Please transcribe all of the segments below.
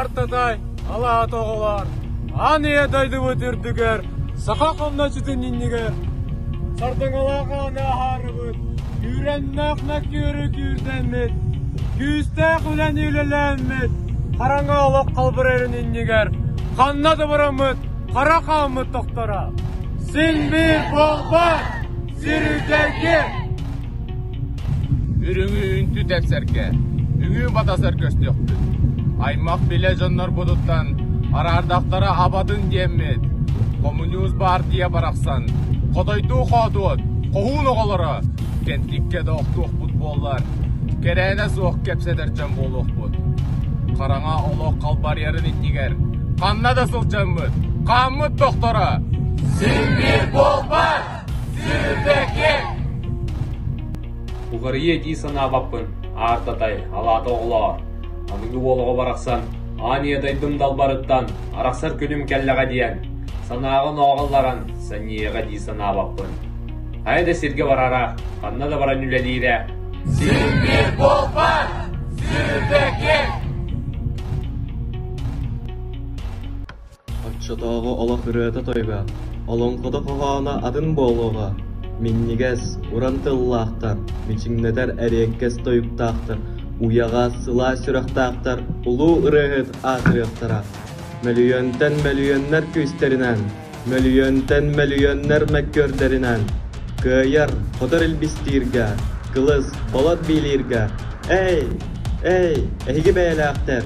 Артатай алаата оҕолор аан ийэ дойдубут үрдүгэр саха хомночутун иннигэр сардаҥалаах ааны аһаарыбыт күүрэннээх Накүөрү күүрдэммит күүстээх үлэни үлэлээммит хараҥа олох халбырайын иннигэр ханна дыбыраммыт хара хааммыт тохторо син биир буолбат сир үрдэргэ Үрүҥүү үнтү тэпсэргэ, үҥүү батасар көстүөхпүт. Аймах билэ дьоннорбутуттан араардахтара абатын диэммит, хомуньуус баартыйа барахсан хотойдуу-хоотуот, хоһуун оҕолоро кэнтиккэ да охтуохпут буоллар, кэрээнэ суох кэпсэтэр дьон буолуохпут. Хараҥа олох халбарыйарын иннигэр ханна да сылдьаммыт, хааммыт тохторо син биир буолбат! Уларыйыа дии санаабаппын, аартатай, алаата оҕолоор, аныгы уол оҕо барахсан аан ийэдайдым далбарыттан арахсар күнүм кэллэҕэ диэн санааҕын ооҕалларан сэниэҕэ дии санаабаппын. Хайа да сиргэ барара, ханна да баран үлэлиирэ. Сир биир буолбат, сир бэкир! Оччотооҕу олох ырыата тойуга, олоҥхото хоһооно атын буолуоҕа. Минньигэс, уран тыллаахтар, мичиҥнэтэр эриэккэс тойуктаахтар, уйаҕа сылаас сүрэхтаахтар улуу ырыаһыт аатырыахтара. Мөлүйүөнтэн мөлүйүөннэр күүстэринэн, мөлүйүөнтэн мөлүйүөннэр мөккүөрдэринэн кыайар, хотор илбистииргэ, кылыс, болот биилииргэ «Эй! Эй! Эһиги бэйэлээхтэр!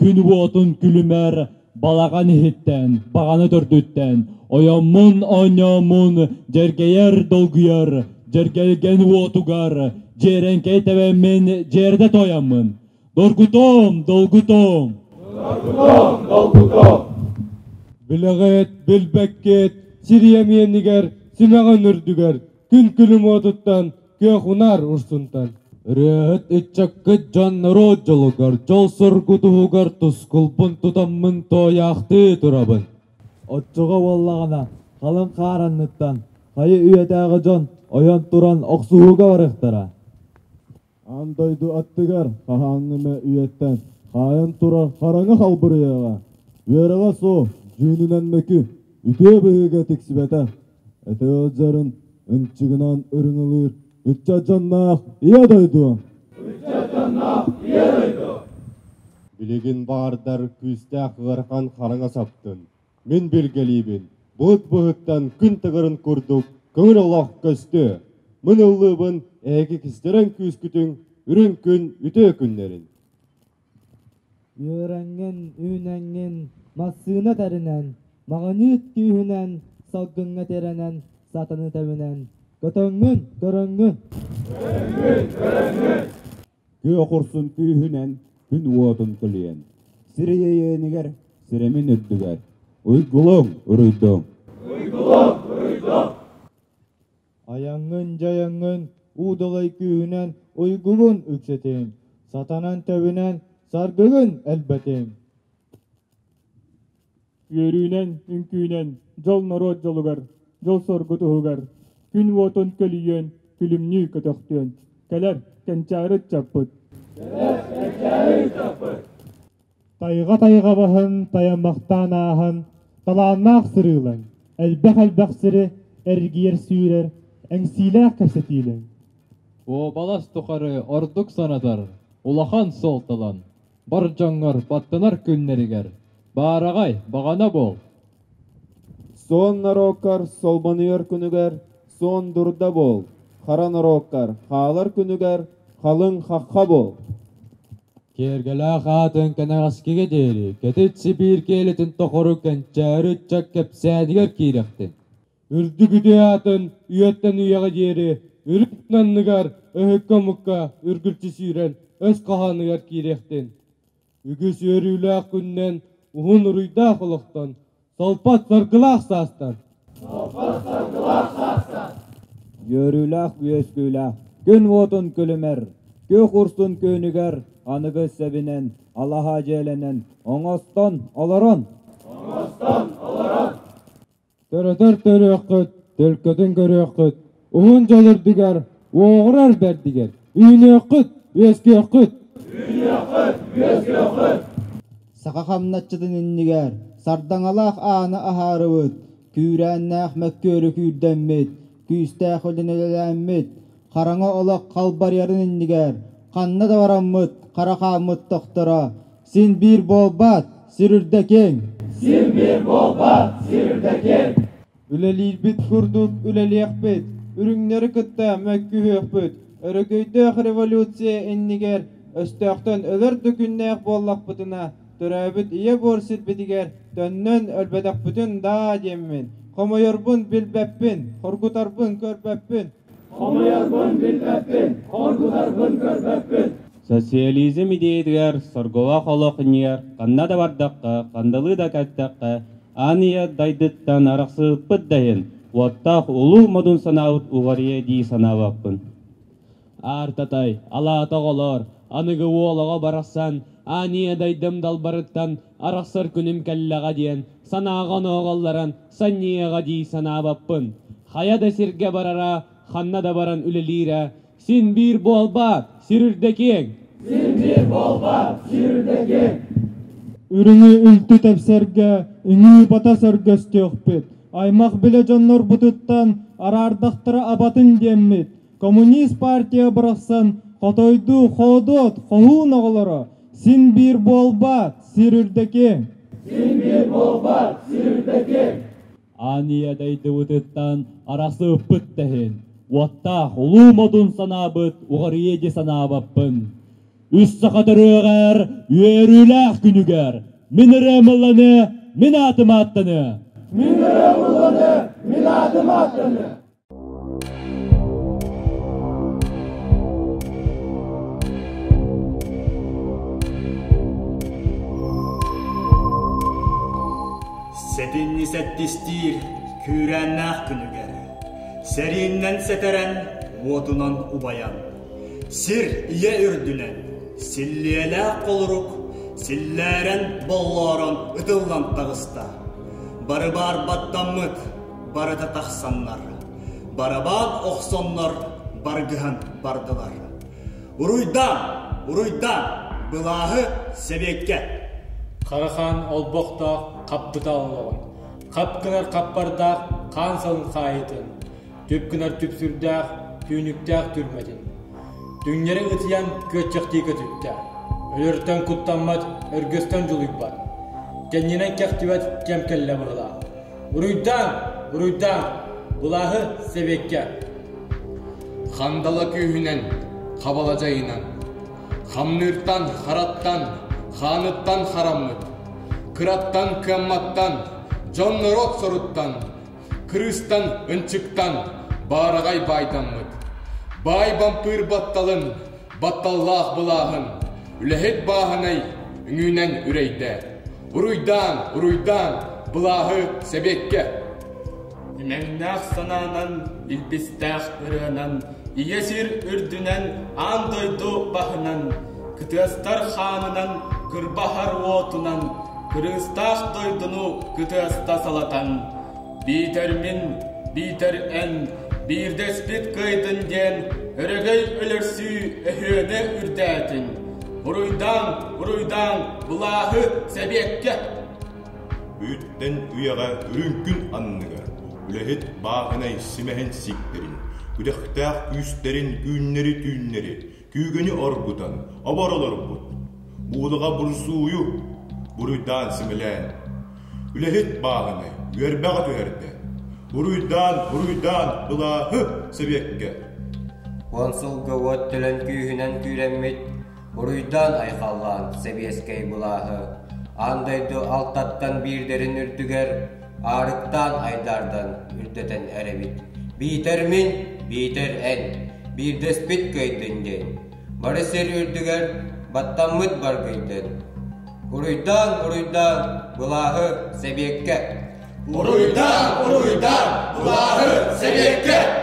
күн уотун күлүмэр балаҕан иһиттэн баҕана төрдүттэн ойоммун онньооммун дьэргэйэр долгуйар дьэргэлгэн уотугар дьиэрэҥкэй тэбэммин дьиэрдэ тойоммун доргутом долгутом доргутом долгутом билэҕит билбэккит сириэ миэнигэр симэҕин үрдүгэр күн күлүм уотуттан Кыахунар урсунтан ырыаһыт ыччаккыт дьон норуот дьолугар, дьол-соргу туһугар тускулбун тутаммын тоойаахтыы турабын. Оччоҕо буоллаҕына халыҥ хаар анныттан хайы үйэтээҕи дьон ойон туран охсуһууга барыахтара. Аан дойду аттыгар хаһааҥҥы эмэ үйэттэн хаайан турар хараҥа халбырыйаҕа. Үөрэҕэ суох, дьүүнүнэн мөкү, үтүө быһыыга тиксибэтэх Өтөөлдьөрүн ынчыгынан ырыҥылыыр ыччат дьонноох Ийэ дойду! Билигин баардар күүстээх ыарахан хараҥа саптын. Мин билгэлиибин булут быһыттан күн тыгырын курдук көҥүл олох көстүө. Мын ыллыыбын эһиги кистэрэн күүскүтүн үрүҥ күн үтүө күннэрин. Үөрэҥҥин, үүнэҥҥин массыына тэринэн, маҕаниит күүһүнэн, салгыҥҥа тирэнэн сатаны тэбинэн көтөҥҥүн, көрөҥҥүн. Күө курсун күүһүнэн күн уотун көлүйэн, сир иэйээнигэр сирэмин үрдүгэр уйгулуҥ, уруйдуҥ. Айаҥҥын-дьайаҥҥын уудалай күүһүнэн уйгугун үксэтин, сатанан тэбинэн саргыгын элбэтин. Үөрүүнэн, үҥкүүнэн дьол норуот дьолугар, дьол-соргу туһугар, күн уотун көлүйүөн, күлүмнүү көтөхтүөн. Кэлэр кэнчээри ыччаппыт. Кэлэр кэнчээри ыччаппыт. Тайҕа-тайҕа баһын тайаммахтаан ааһан, талааннаах сырыылаҥ, элбэх-элбэх сири эргийэр-сүүрэр, эҥсиилээх кэпсэтиилэҥ. Уобалас тухары ордук санатар улахан суолталан, бар дьоҥҥор баттанар күннэригэр баараҕай баҕана буол! Суон норуоккар солбонуйар күнүгэр суон дурда буол, хара норуоккар хаалар күнүгэр халыҥ хахха буол! Киэргэлээх аатын кэнэҕэскигэ диэри Кэтит Сибиир киэлитин тухары кэнчээри ыччат кэпсээнигэр киирэхтин. Үрдүк үтүө аатын үйэттэн үйэҕэ диэри үрүт анныгар өһүккэ-омукка үргүлчү сүүрэн өс хаһааныгар киириэхтин. Үгүс үөрүүлээх күннэн уһун уруйдаах олохтон Солпот саргылаах саастар. Солпот саргылаах саастар. Үөрүүлээх үөскүүлээх күн уотун күлүмэр, күөх урсун күүнүгэр аныгыс сэбинэн алаһа дьиэлэнэн оҥостон олорон. Оҥостон олорон. Төрөтөр төрүөххүт, төлкөтүн көрүөххүт, Уһун дьөлөрдүгэр, уоҕурар бэрдигэр, үүнүөххүт, үөскүөххүт! Үүнүөххүт, үөскүөххүт! Саха хамначчытын иннигэр сардаҥалаах ааны аһаарыбыт, күүрээннээх мөккүөрү күүрдэммит, күүстээх үлүн үлэлээммит, хараҥа олох халбарыйарын иннигэр ханна да бараммыт хара хааммыт тохторо син биир буолбат, сир үрдэ киэҥ! Син биир буолбат, сир үрдэ киэҥ! Үлэлиирбит курдук үлэлиэхпит, үрүҥнэри кытта мөккүһүөхпүт. Өрөгөйдөөх революция иннигэр өстөөхтөн өлөр да күннээх буоллахпытына, төрөөбүт ийэ буор сирбитигэр төннөн өлбөтөхпүтүн даа диэммин, хомойорбун билбэппин, хоргутарбын көрбөппүн, Хомуйарбын билбэппин, хоргутарбын көрбөппүн. Социализм идеятыгар сорголоох олох иннигэр ханна да бардахха, хандалыы да кэттэххэ, аан ийэ дайдыттан арахсыппыт да иһин, уоттаах улуу модун санаабыт уларыйыа дии санаабаппын. Аартатай, алаата оҕолоор, аныгы уол оҕо барахсан аан ийэ дайдым далбарыттан арахсар күнүм кэллэҕэ диэн санааҕа онооҕоллорон Санньыйаҕа дии санаабаппын. Хайа да сиргэ барара, ханна да баран үлэлиирэ. Син биир буолбаат, сир үрдэ киэҥ! Син биир буолбаат, сир үрдэ киэҥ! Үрүҥү үлтү тэпсэргэ ыҥыы-батас өргөстүөхпүт. Аймах-билэ дьоннорбутуттан араардахтара абатын диэммит, Коммунист партия барахсан хотойдуу хоодуот, хоһуун оҕолоро, син биир буолбат, сир үрдэкиҥ! Син биир буолбат, сир үрдэкиҥ! Аанньыйа дойдубутуттан арасыыппыт да иһин, уоттаах улуу модун санаабыт уҕарыйыы дии санаабаппын. Үс саха төрүөҕэр үөрүүлээх күнүгэр мин ырыам ылланы, мин аатым ааттаны! Мин ырыам ылланы, мин аатым ааттаны! Сэтинньи сэттистиир күүрээннээх күнүгэр сэрииннэн сэтэрэн уотунан убайан сир ийэ үрдүнэн силлиэлээх холорук силлээрэн боллоорон ытыллан таҕыста бары баар баттаммыт барыта тахсаннар, барабаан охсоннор баргыһан бардылар. Уруйдаан, уруйдаан, былааһы сэбиэккэ. Харахаан олбохтоох хаппыта олоҕун, хап гынар хаппардаах хаан салын хаайытын, түп гынар түпсүрдээх түүнүктээх түрмэтин. Түҥнэри ытыйан күөччэхтии көтүттэ. Өлөртөн куттаммат, өргөстөн дьулуйбат. Кэннинэн кэхтибэт кэм кэллэ быһылаах. Буруйдаан! Буруйдаан! Былааһы сэбиэккэ! Хандала күүһүнэн, хабала дьайынан, хамныыртан, хараттан, хааныттан хараммыт, кыраттан, кыамматтан, дьон-норуот соруттан, кырыыстан, ынчыктан, баараҕай баайдаммыт, баай бампыыр батталын, Батталлаах былааһын үлэһит бааһынай үҥүүнэн үрэйдэ. Уруйдаан, уруйдаан былааһы сэбиэккэ. Имэҥнээх санаанан, илбистээх ырыанан, ийэ сир үрдүнэн, аан дойду баһынан, кытыастар хаанынан, кырбаһар уотунан, кырыыстаах дойдуну кытыаста салатан, Биитэр мин, биитэр эн, биирдэспит кыайдын диэн өрөгөй өлөрсүү өһүөнэ үрдээтин. Буруйдаан, буруйдаан, былааһы сэбиэккэ! Үүттэн үйэҕэ үрүҥкүн анныга, үлэһит бааһынай симэһин сиктэрин, күдэхтээх үүстэрин үүннэри түүннэри, күүгэни оргутан оборолорбут, уудаҕа бурсууйу, буруйдаан симэлээн, үлэһит бааһыны үөрбэҕэ түһэрдэ, буруйдаан, буруйдаан былааһы сэбиэккэ. Уон сылга уот төлөн күүһүнэн күүрэммит, буруйдаан айхаллаан сэбиэскэй былааһы, аан дойду алтаттан биирдэрин үрдүгэр Аарыктаан айдаардан үрдэтэн эрэбит. Биитэр мин, биитэр эн, биирдэспит кыайдын диэн. Бары сир үрдүгэр баттаммыт баргыйдын. Уруйдаан, уруйдаан, былааһы сэбиэккэ. Уруйдаан, уруйдаан, былааһы сэбиэккэ.